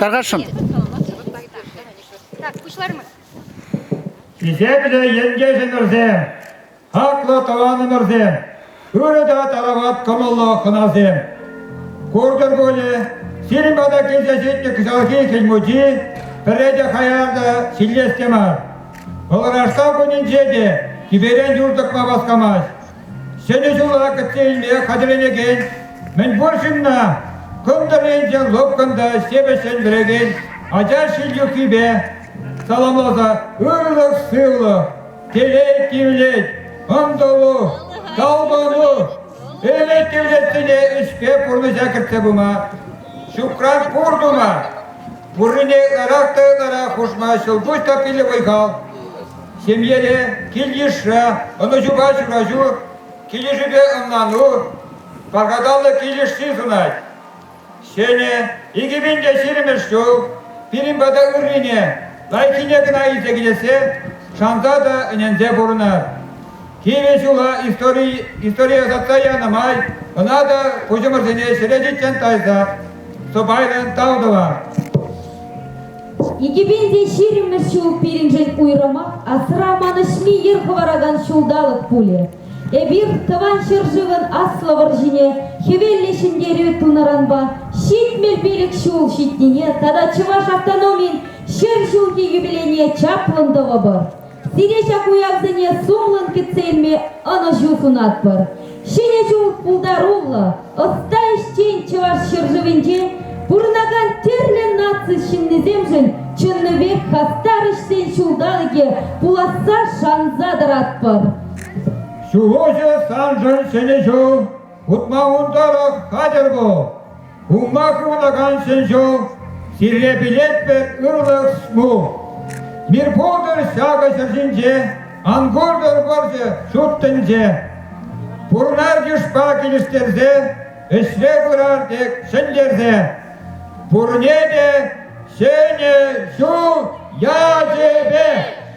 Тархасшӑн. Так, пуҫлармӑр. Хисеплӗ ентешӗмӗрсем, хаклӑ тӑванӑмӑрсем, ырӑ та тарават кӑмӑллӑ хӑнасем! Куртӑр пулӗ, сирӗн пата килсе ҫитнӗ кӑҫалхи хӗл мучи пӗрре те хаяр та ҫиллес те мар. Пӑлӑрашса кунӗнче те тӳперен юр тӑкма васкамасть. Ҫӗнӗ ҫула кӗтсе илме хатӗрленекен мӗнпур ҫынна кӑнтӑр-инҫе лӑпкӑн та ҫепӗҫҫӗн вӗрекен ача ҫил юххипе саламласа ырлӑх-сывлӑх, телей тивлет, ӑнтӑлу, талпӑну, ӗмӗт тивлессине ӗҫпе пурнӑҫа кӗртсе пыма, ҫукран пур тума, пуррине ырах та ырара хушма ҫӑлкуҫ та питӗ вӑй-хал. Ҫемьере кил-йышра ӑнӑҫупа ҫураҫу, килӗшӳпе ӑнлану, пархатарлӑ килӗш ҫыхӑнать. Ҫӗнӗ, икӗ пин те ҫирӗммӗш ҫул пирӗн пата ыррине, лайӑххине кӑна илсе килессе шанса та ӗненсе пурӑнар. Кивӗ ҫула истори, историе ӑсатса янӑ май ӑна та куҫӑмӑрсене ҫӗлетиччен тайсах сӑпайлӑн тав тӑва. Икӗпенсе ҫирӗммӗш ҫул пирӗншӗн уйрӑмах асра манӑҫми йӗр хӑваракан ҫулталӑк пулӗ. Эпир тӑван ҫӗршывӑн Аслӑ вӑрҫине хӗвеллӗ ҫӗнтерӳ тунӑранпа ҫитмӗл пилӗк ҫул ҫитнине тата чӑваш автономин ҫӗр ҫулхи юбилейне чаплӑн тӑвӑпӑр. Сире ҫак уявсене сумлӑн кӗтсе илме ӑнӑҫу сунатпӑр. Ҫӗнӗ ҫул пултаруллӑ, ӑста ӗҫчен Чӑваш ҫӗршывӗнче пурӑнакан тӗрлӗ наци ҫыннисемшӗн чӑннипех хастар ӗҫсен ҫулталӑкӗ пуласса шанса тӑратпӑр. Сывӑхӗ саншӑн ҫӗнӗ ҫул! Утма ун тӑрӑх хатӗр пул! Унпа кулакан ҫӗн сире пилетпӗр ырлӑх шу. Мир пултӑр ҫакӑ ҫӗр ҫинче, ан куртӑр вӑрҫӑ ҫут тӗнче. Пурнар йышпа килӗштерсе, ӗҫре пырар тек ҫӗнтерсе. Пурне те ҫӗнӗ ҫул ячӗпе!